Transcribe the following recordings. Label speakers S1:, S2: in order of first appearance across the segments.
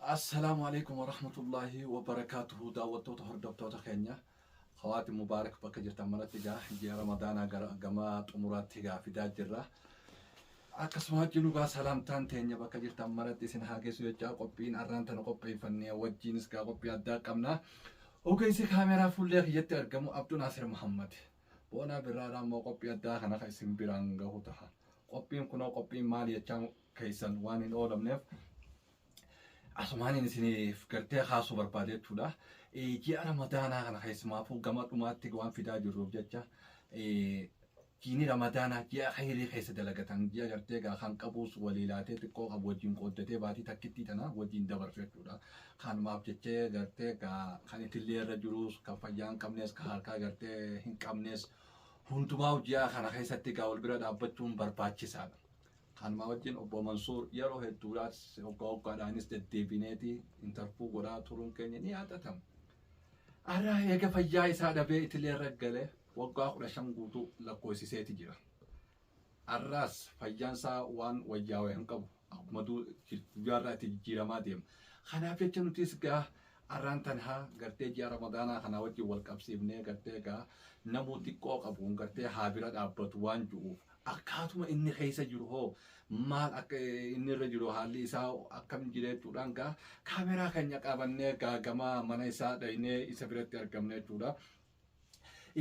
S1: Assalaamu Aleeykum Warahmatullaahi Wabarakatuhu Daawwattoota Hordoftoota keenya Khawaati Mubaarak bakka jirtan maratti egaa ji'a Ramadaanaa gara gama xumuraatti egaa fidaa jirra. Akkasuma wajjin egaa salaamtaan teenya bakka jirtan maratti isin haa geessu jechaa qophiin arraan tana qopheeffannee wajjiinis egaa qophii addaa qabna. Ogeessi kaameeraa fuullee kiyyatti argamu Abduu Naasir Muhammad. Boonaa birraadhaa immoo qophii addaa kana kan isin biraan gahu taha. Qophiin kunoo qophiin maali jechaa keessan waan hin oolamneef Asumaanin isiniif gartee kaasuu barbaade jechuudha. Eh, Ji'a Ramadaanaa kana keessumaafuu gama dhumaatti waan fidaa jirruuf jecha eh, jiini Ramadaanaa ji'a khayrii keessa dalagatan ji'a gartee gaa kan qabuus walii laatee xiqqoo qabu wajjin qooddatee baatii takkittii tana wajjin dabarsu jechuudha. Kanumaaf jechee gartee gaa kan itillee irra jirus kan fayyaa hin qabnes kan harkaa gartee hin qabnes hundumaa ji'a kana keessatti gaa wal bira dhaabbachuun barbaachisaadha. Kanumaa wajjin Obbo Mansuur yeroo hedduudhaas hoggaa hoggaadhaanis deddeebineeti interview godhaa turuun keenya ni yaadatama. Har'a eega fayyaa isaa dhabee itilee irra galee waggaa kudha shan guutuu lakkoofsiseeti jira. Har'aas fayyaan isaa waan wayyaawe hin qabu. Akkuma guyyaa irraa itti jijjiiramaa deema. Kanaaf jecha nutis gaa har'aan tanhaa gartee ji'a ramadaanaa kanaa wajjin wal qabsiifnee gartee gaa namuu xiqqoo qabuun gartee haa bira dhaabbatu waan ju'uuf akkaatuma inni keessa jiru hoo maal akka inni irra jiru haalli isaa akkam jira jechuudhaan gaa kaameraa keenya qabannee gaa gama mana isaa dhaynee isa biratti argamne jechuudha.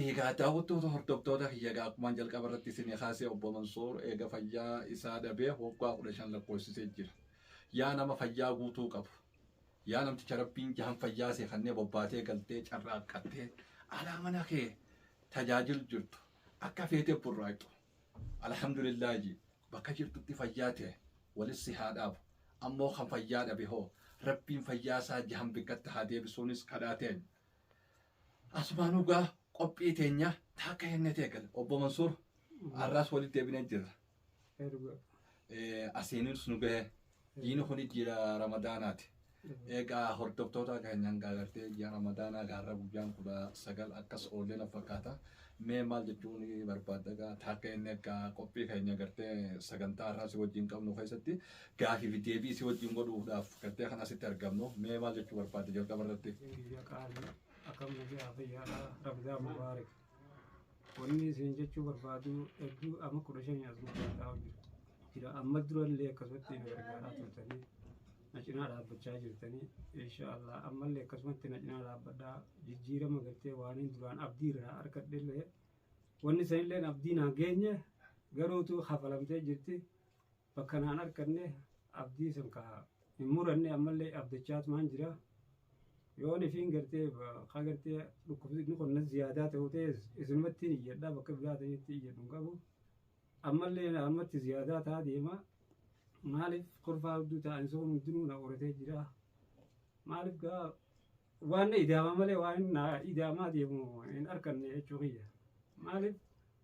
S1: Egaa daawwattoota hordoftoota kiyya egaa akkuma jalqaba irratti isin kaasee obbo Mansoor eega fayyaa isaa dhabee waggaa kudha shan lakkoofsisee jira. Yaa nama fayyaa guutuu qabu. Yaa namticha rabbiin jahan fayyaa seefannee bobbaatee galtee carraaqqattee alaa mana kee tajaajil jirtu. Akka feetee burraaqxu. Alhamdulillah ji. Bakka jirtutti fayyaa tee walit si haa dhaabu. Ammoo kan fayyaa dhabe hoo Rabbiin fayyaa isaa jahan bikkatti haa deebisuunis kadhaa teenya. Asumaanuu gaa qophii teenya taakka hennetee gale. Obbo Mansuur arraas walit deebinee jirra. Ee dhugaa. Eh, Asiinis nu gahe. Jiini kun jiidha Ramadaanaati. Egaa hordoftoota keenya hanga agartee ji'a Ramadaanaa gaarra guyyaan kudha sagal akkas oollee na fakkaata. Mee maal jechuun barbaadda egaa taakka inni akka qophii keenya agartee sagantaa har'aa si wajjin qabnu keessatti gaafii fi deebii si wajjin godhuudhaaf agartee kan asitti argamnu mee maal jechuu barbaadda jalqaba irratti? Biyya qaalii
S2: akkam nagaa fayyaadhaa Ramzaan Mubaarak. Wanni isin jechuu barbaadu hedduu amma kudha shanii as guddaa jira. Jira amma durallee akkasumatti na gargaaraa turtanii na cinaa dhaabbachaa jirtanii insha Allah ammallee akkasumatti na cinaa dhaabbadhaa jijjiirama gartee waaniin duraan abdii irraa harkadhellee wanni sanillee abdii naa geenye garuutu hafalamtee jirti Bakka naan arkanne abdii san ka hin muranne ammallee abdachaatumaan jira. Yoon ifiin gartee ka gartee dhukkubni kun na ziyaadaa ta'u ta'es isinumattiin iyyadha bakka biraa ta'etti iyyadhu hin qabu. Ammallee naannumatti ziyaadaa ta'a deema. Maaliif kurfaa hedduu ta'an sun hundinuu na qoratee jira. Maaliif gaa Waan na idaamaa malee waan na idaamaa deemu hin arkanne jechuu kiyya. Maaliif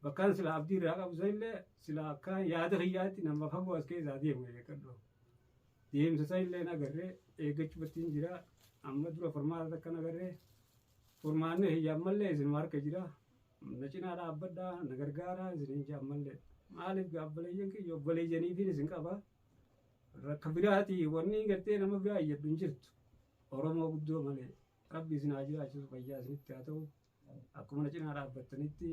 S2: bakkaan silaa abdii irraa qabu sanillee silaa akka yaada kiyyaatti nama fagoo as keessaa deemu eeggadhu. Deemsa sanillee nagarree eeggachuu battiin jira. Amma dura furmaata akka nagarree furmaanni kiyya ammallee isinuma harka jira. Na cinaa dhaabbadhaa na gargaaraa isiniin jaa ammallee. Maaliif gaabbaleyyan kiyya obboleeyyaniifiin isin qaba. rakka biraati wanni gartee nama biraa iyyaddu hin jirtu oromoo guddoo malee rabbi isin haa jiraachisu fayyaa isinitti haa ta'u akkuma na cinaa dhaabbattanitti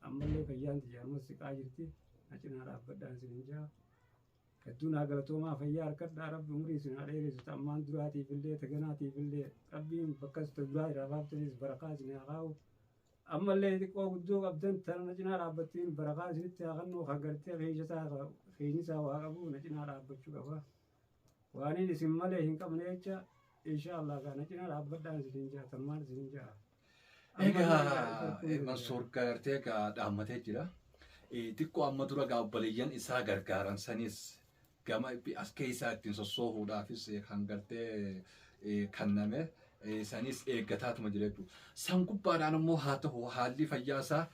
S2: ammallee fayyaan tiyya amma siqaa jirti na cinaa dhaabbadhaan isin hin jaa hedduu naa galatoomaa fayyaa harkadhaa rabbi umurii isin haa dheeressu ta ammaan duraatiif illee ta ganaatiif illee rabbiin bakkas ta duraa irraa baaftanis barakaa isin haa kaa'u Ammallee xiqqoo guddoo qabdan tana na cinaa dhaabbatteen barakaa isinitti haa kennu ka gartee keeysataa ka keenyisaa waa qabu na cinaa dhaabbachuu qaba. Waaniin isin malee hin qabne jecha inshaa Allah kaa na cinaa dhaabbadhaan isiniin ja'a tammaan isiniin ja'a. Egaa
S1: eh, Mansuur gartee egaa dhaammatee jira. Eh, Xiqqoo amma dura egaa obboleeyyan isaa gargaaran sanis gama itti as keessaa ittiin sossoohuudhaafis kan gartee kanname sanis eeggataatuma jira jechuudha. San gubbaadhaan immoo haa ta'u haalli fayyaa isaa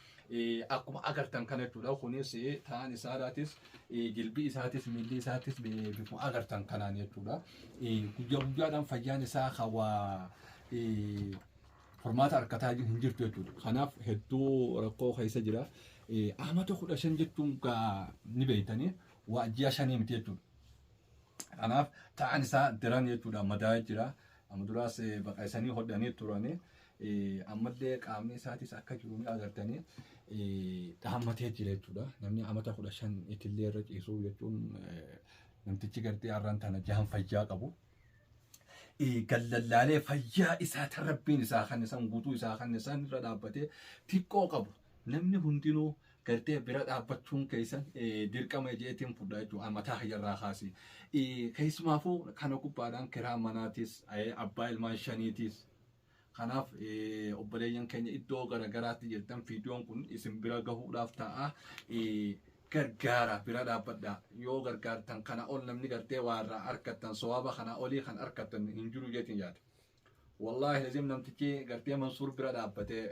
S1: akkuma agartan kana jechuudha. Kunis ta'an isaarraatis jilbii isaatis miilli isaatis bifuma agartan kanaan jechuudha. Guyyaa guyyaadhaan fayyaan isaa hawaa furmaata harkataa hin jirtu jechuudha. Kanaaf hedduu rakkoo keessa jira. Amata kudha shan jechuun ni beektanii waa ji'a shanii miti jechuudha. Kanaaf ta'an isaa daran jechuudha madaa'ee jira. Amma duraas eh, baqa isanii hodhanii turanii eh, ammallee qaamni isaatis akka jiru ni agartanii eh, dhaammatee jira jechuudha. Namni amata kudha shan itillee irra ciisuu jechuun eh, namtichi gartee har'aan tana jahan fayyaa qabu. Eh, Gallallaalee fayyaa isaa tan rabbiin isaa kan isaan guutuu isaa kan isaan irra dhaabbatee xiqqoo qabu. Namni hundinuu gartee bira dhaabbachuun keessan dirqama jeetiin fudha jechuudha mataa kiyyarraa kaasee. Keessumaafuu kana gubbaadhaan kiraa manaatis abbaa ilmaan shaniitis kanaaf obboleeyyan keenya iddoo garaagaraatti jirtan viidiyoon kun isin bira gahuudhaaf ta'a. gargaara bira dhaabbadha yoo gargaartan kana ol namni gartee waa irraa argattan sowaaba kana olii kan argattan hin jiru jeetiin yaada. Wallaahi lazim namtichi gartee Mansuur bira dhaabbatee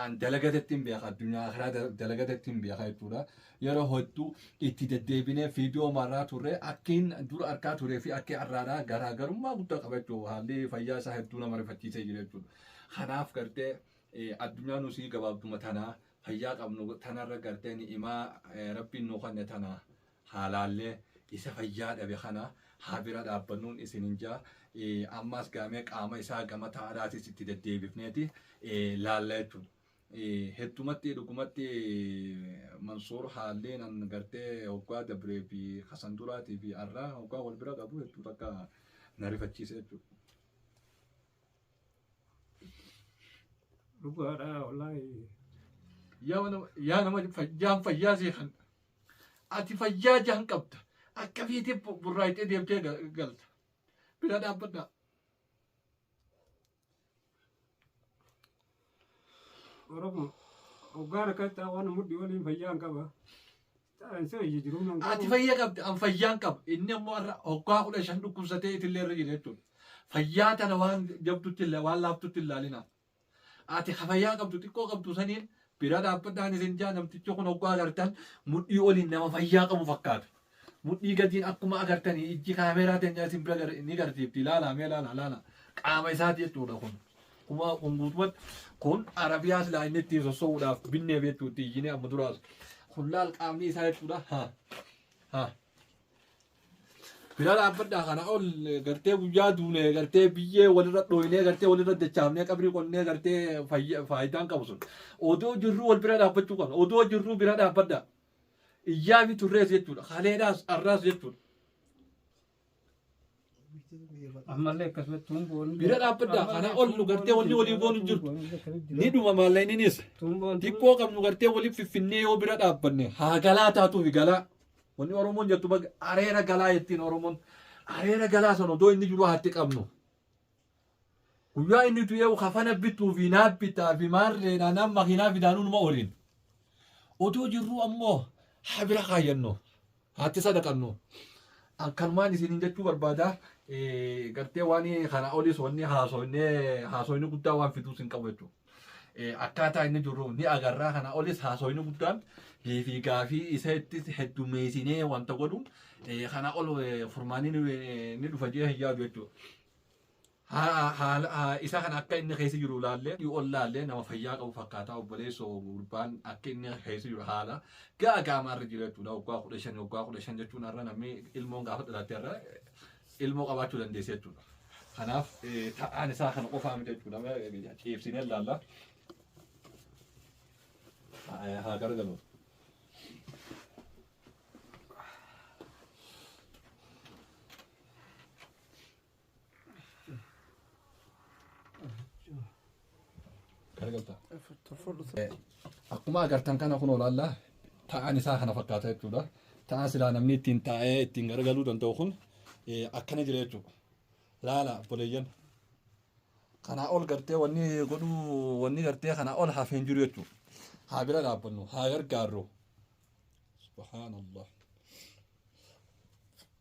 S1: an dalagatetti hin beeka addunyaa karaa da- dalagatetti hin beeka jechuudha. Yeroo hedduu itti deddeebinee viidiyoo marraa turre akkiin dura arkaa turee fi akkii har'aadhaa garaagarummaa guddaa qaba jechuudha. Haalli fayyaa isaa hedduu nama rifachiisee jira jechuudha. Kanaaf gartee eh, addunyaa nusii gabaabduma tanaa fayyaa qabnu tanarra gartee ni'imaa eh, rabbiin nu kanne tanaa. haalaallee isa fayyaa dhabe kana haa bira dhaabbannuun isinin jaa ammaas gaamee qaama isaa gama taa'adhaatis itti deddeebifneeti laalla jechuudha. Heddumatti dhugumatti Mansuur haalleen an gartee hoggaa dabree fi kasan duraatii fi arraa hoggaa wal bira qabu hedduu takka na rifachiise jechuudha.
S2: dhugaadhaa wallaahi yaa
S1: nama- yaa nama fayyaan fayyaa sii kan ati fayyaa jaan qabda akka fiitii bu- burraayitee deemtee ga- galta bira dhaabbadhaa
S2: Oromoo hoggaan akkatti waan mudhii waliin fayyaan qaba. Ati fayya qabda, an
S1: fayyaan qaba. Inni ammoo har'a hoggaa kudha shan dhukkubsatee itillee irra jira jechuudha. Fayyaa tana waan jabdutti illa- waan laaftutti hin laalinaa. Ati ka fayyaa qabdu xiqqoo qabdu saniin bira dhaabbadhaan isin jaa namtichi kun hoggaa agartan mudhii oliin nama fayyaa qabu fakkaata. Mudhii gadiin akkuma agartanii ijji kaameeraa teenyaa isin bira gar- ni garsiifti. Ilaalaa mee ilaalaa ilaalaa. Qaama isaati jechuudha kun. Akkuma kun guutumatti kun Arabiyaa silaa inni ittiin sossoo'uudhaaf binnee beektu itti iyyinee amma duraas kun laal qaamni isaa jechuudha. Ha. Ha. Bira dhaabbadhaa kana ol gartee guyyaa duunee gartee biyyee walirra dhooynee gartee walirra dachaafnee qabrii qonnee gartee fayya- faayidaan qabu sun. Odoo jirruu wal bira dhaabbachuu qabna. Odoo jirruu bira dhaabbadhaa. Iyyaa fi turrees jechuudha. Haleedhaas arraas jechuudha.
S2: ammallee akkasumatti tuumboon bira dhaabbaddaa kanaa
S1: ol nu gartee wanni walii goonu hin jirtu ni dhuma maallaqninis tuumboon xiqqoo qabnu gartee waliif fiffinnee yoo bira dhaabbanne haa galaa taatuufi galaa wanni oromoon jettu baga areera galaa jettiin oromoon areera galaa sana odoo inni jiru haatti qabnu Guyyaa inni du'eewu kafana bituu fi naaf bitaa fi maarreedhaan amma makiinaa fidaanuu numa oliin. Otoo jirruu ammoo haa bira kaayyannu. Haatti sadaqannu. An kanumaan isiniin jechuu barbaada. Eh, Gartee waan kana oliis wanni haasoynee haasoyni guddaa waan fiduus hin qabu jechuudha. Eh, Akkaataa inni jiru ni agarraa kana oliis haasoyni guddaan deebii gaafii isa ittis heddumeessinee wanta godhu eh, kana ol eh, furmaanni ni eh, ni dhufa jee hin yaadu jechuudha. Isa kana akka inni keessa jiru ilaallee yoo ollaallee nama fayyaa qabu fakkaataa obboleessoo gurbaan akka inni keessa jiru haala ga'a gaamaa irra jira jechuudha waggaa kudha shan waggaa kudha shan jechuun har'a namni ilmoon gaafa dhalatte har'a ilmoo qabaachuu dandeessi jechuudha. Kanaaf ta'aan isaa kana qofaa miti jechuudha ciibsinee ilaalla. Haa gargalu. Garagalta. Akkuma agartan kana kun olaallaa ta'an isaa kana fakkaata jechuudha. Ta'an silaa namni ittiin taa'ee ittiin garagaluu danda'u kun eh, akkana jira jechuudha. Laala obboleeyyan. Kanaa ol gartee wanni godhuu wanni gartee kanaa ol hafee hin jiru jechuudha. Haa bira dhaabbannu haa gargaarru. Subhaanallah.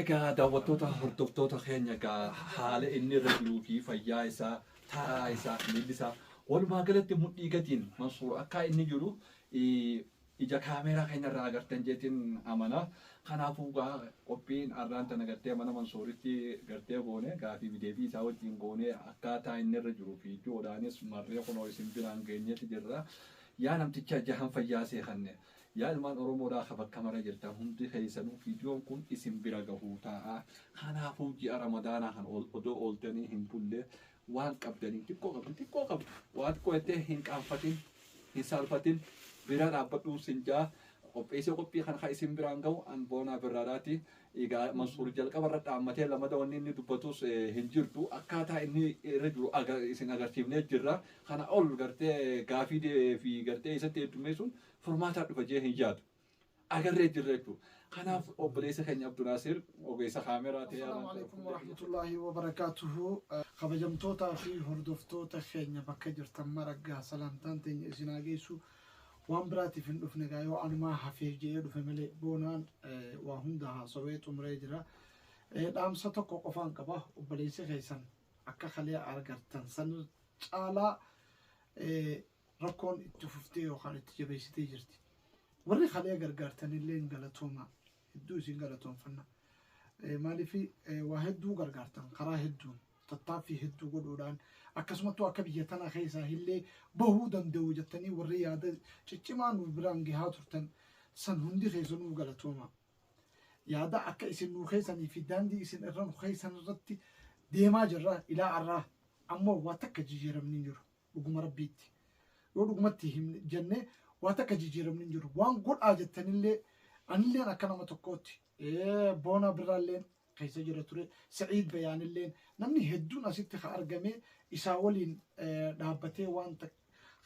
S1: Egaa daawwattoota hordoftoota keenya egaa haala inni irra jiruu fi fayyaa isaa taraa isaa miilli isaa walumaa galatti mudhii gatiin mansuur akka inni jiru eh, Ija camera kenya irraa agartan jetin amana kanafu gaa qophiin arraan tana gartee mana mansuuritti gartee goone gaafii fi deebii isaa wajjin goone akkaataa inni irra jiru video dhaanis marree kunoo isin biraan geenyeti jirra yaa namticha jahan fayyaa sii kanne yaa ilmaan oromoodhaa ka bakka mara jirtan hundi keessanuu videon kun isin bira gahuu ta'a kanaafuu ji'a ramadaanaa kan odoo ooltanii hin bulle Waan qabdaniin xiqqoo qabdan xiqqoo qabdu waa xiqqoo jettee hin qaanfatin hin saalfatin bira dhaabbadhuun sin jaa qopheessee qophii kan kan isin biraan ga'u an boonaa birraadhaati egaa mansuur jalqaba irra dhaammatee lamada wanni inni dubbatus hin jirtu akkaataa inni irra jiru isin agarsiifnee jirra kana ol gartee gaafii fi gartee isatti heddummeessuun furmaataa dhufa jee hin yaadu. agarree jirra jechuudha. Kanaaf obboleessa keenya Abdunaasir ogeessa kaameraa ta'ee Assalaamu alaikum warahmatullahi
S3: wabarakatuhu. Kabajamtootaa fi hordoftoota keenya bakka jirtan mara gaa salaamtaan teenya isin haa geessu. Waan biraatiif hin dhufne gaa yoo anumaa hafeef jedhee dhufe malee boonaan eh, waa hunda haasawee xumuree jira. Eh, Dhaamsa tokko qofaan qaba obboleessi keessan akka kalee argartan san caalaa eh, rakkoon itti fuftee yookaan itti jabeessitee jirti. Warri kalee gargaartanillee galatooma hedduu isin galatoomfanna. Maaliif waa hedduu gargaartan karaa hedduun tattaaffii hedduu godhuudhaan akkasumattuu akka biyya tana keessaa illee bahuu danda'u jettanii warri yaada ciccimaa nu biraan gahaa turtan san hundi keessanuu galatooma. Yaada akka isin nu keessanii fi daandii isin irra nu keessan irratti deemaa jirra ilaa arraa ammoo waa takka jijjiiramni jiru. Dhuguma Rabbiitti yoo dhugumatti himne jennee waa takka jijjiiramni hin jiru. Waan godhaa jettanillee anilleen akka nama tokkootti boona birraalleen keessa jira ture Sa'iid Bayaanilleen namni hedduun asitti ka argamee isaa waliin dhaabbatee waan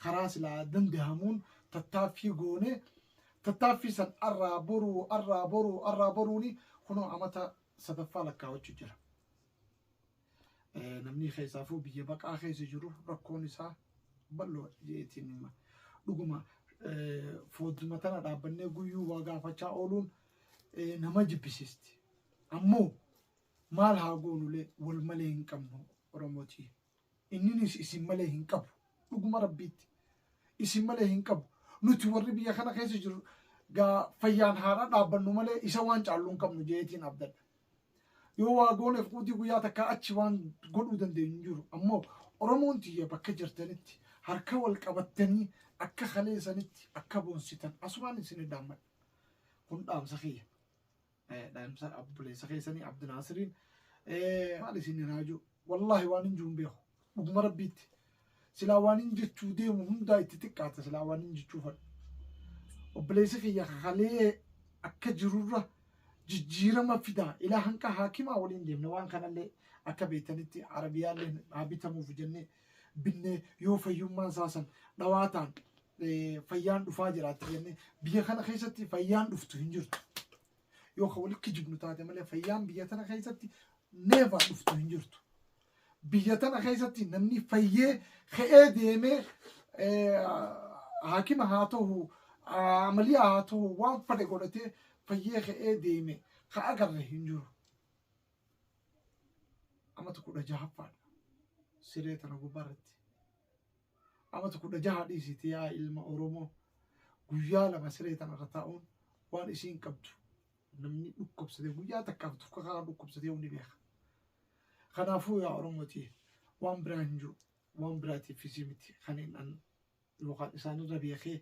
S3: karaa silaa dandahamuun tattaaffii goone tattaaffii san arraa boruu arraa boruu arraa boruuni kunoo amata sadaffaa lakkaawachuu jira. Namni keessaafuu biyya baqaa keessa jiru rakkoon isaa bal'oodha jeetiin hima. Dhuguma foodduma tana dhaabbannee guyyuu waa gaafachaa ooluun nama jibbisiisti. Ammoo maal haa goonulee wal malee hin qabnu Oromootii. Inninis isin malee hin qabu. Dhuguma rabbiitti. Isin malee hin qabu. Nuti warri biyya kana keessa jiru gaa fayyaan haadha dhaabbannu malee isa waan caallu hin qabnu jeetiin abdadha. Yoo waa gooneef quudii guyyaa takkaa achi waan godhuu dandeenyu hin jiru. Ammoo Oromoon tiyya bakka jirtanitti harka wal qabattanii akka kalee sanitti akka boonsitan asumaan isin dhaammadha. Kun dhaamsa kiyya. Eh, Dhaamsa obboleessa keessanii Abdinaasiriin. Eh, Maal isin hin haajuu? Wallaahi waan hin jiru hin beeku. Dhuguma rabbiitti. Silaa waanin jechuu deemu hundaa itti xiqqaata silaa waanin jechuu fadhu. Obboleessi kiyya kakalee akka jirurra jijjiirama fidaa ilaa hanqa haakimaa waliin deemne waan kanallee akka beektanitti arabiyaallee haa bitamuuf jennee binnee yoo fayyummaan isaa san dhawaataan eh, fayyaan dhufaa jiraatti jennee biyya kana keessatti fayyaan dhuftu hin jirtu. Yoo kan walitti kijibnu taate malee fayyaan biyya tana keessatti neevaa dhuftu hin jirtu. Biyya tana keessatti namni fayyee ka'ee deemee haakima haa ta'u amaliyaa haa ta'u waan fadhe godhatee fayyee ka'ee deeme ka agarre hin jiru. Amata kudha jahaffaadha siree tana gubbaa irratti. Amata kudha jaha dhiisiti yaa ilma Oromoo guyyaa lama siree tana irra taa'uun waan isiin qabdu Namni dhukkubsatee guyyaa takkaaf tokko karaa dhukkubsatee ni beeka. Kanaafuu yaa Oromootii waan biraa hin jiru. Waan biraatiifis miti kan hin an yookaan isaanirra beekee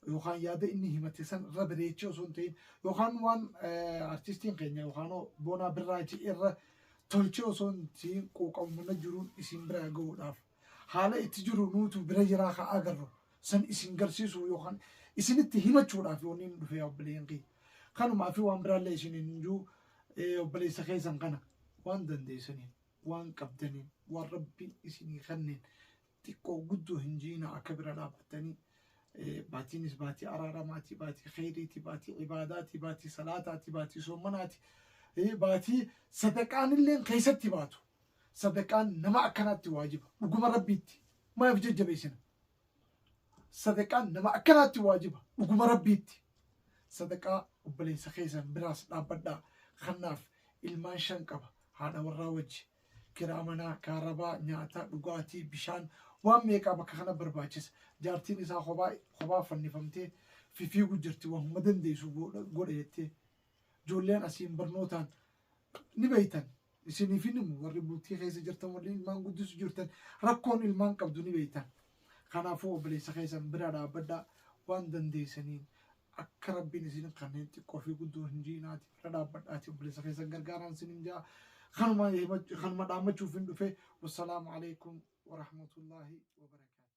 S3: yookaan yaada inni himate san irra bareechee osoo hin ta'in yookaan waan artistiin keenya yookaan boonaa birraachi irra tolchee osoo hin ta'in quuqamumana jiruun isin biraa gahuudhaaf Haala itti jiru nuutu bira jiraa ka agarru san isin garsiisuu yookaan isinitti himachuudhaaf wanni nu dhufee obboleeyyan kiyya. Kanumaa fi waan biraallee isin hin juu obboleessa keessan kana waan dandeessaniin waan qabdaniin waan rabbiin isinii kanneen xiqqoo guddoo hin jiina akka bira dhaabbattanii baatiinis baatii araaramaati baatii kheyriiti baatii ibaadaati baatii salaataati baatii soomanaati baatii sadaqaanilleen keessatti baatu Sadaqaan nama akkanaatti waajiba. Dhuguma Rabbiitti. Maa if jajjabeessina? Sadaqaan nama akkanaatti waajiba. Dhuguma Rabbiitti. Sadaqaa obboleessa keessan biraas dhaabbadhaa. Kanaaf ilmaan shan qaba. Haadha warraa wajji. Kiraa manaa, kaarabaa, nyaata, dhugaatii, bishaan waan meeqaa bakka kana barbaachisa. Jaartiin isaa kophaa kophaa fannifamtee fifiigu jirti. Waan hunda dandeessu godha godha jettee. Ijoolleen asiin barnootaan Ni beektan isiniif hin himu warri bultii keessa jirtan warri ilmaan guddisu jirtan rakkoon ilmaan qabdu ni beektan. Kanaafuu obboleessa keessan bira dhaabbadhaa waan dandeessaniin akka rabbiin isin kanneen xiqqoo fi guddoo hin jiinaati bira dhaabbadhaati obboleessa keessan gargaaraan isin hin jaa kanuma himach- kanuma dhaammachuuf hin dhufe wassalaamu alaikum warahmatullaahi wabarakaatu.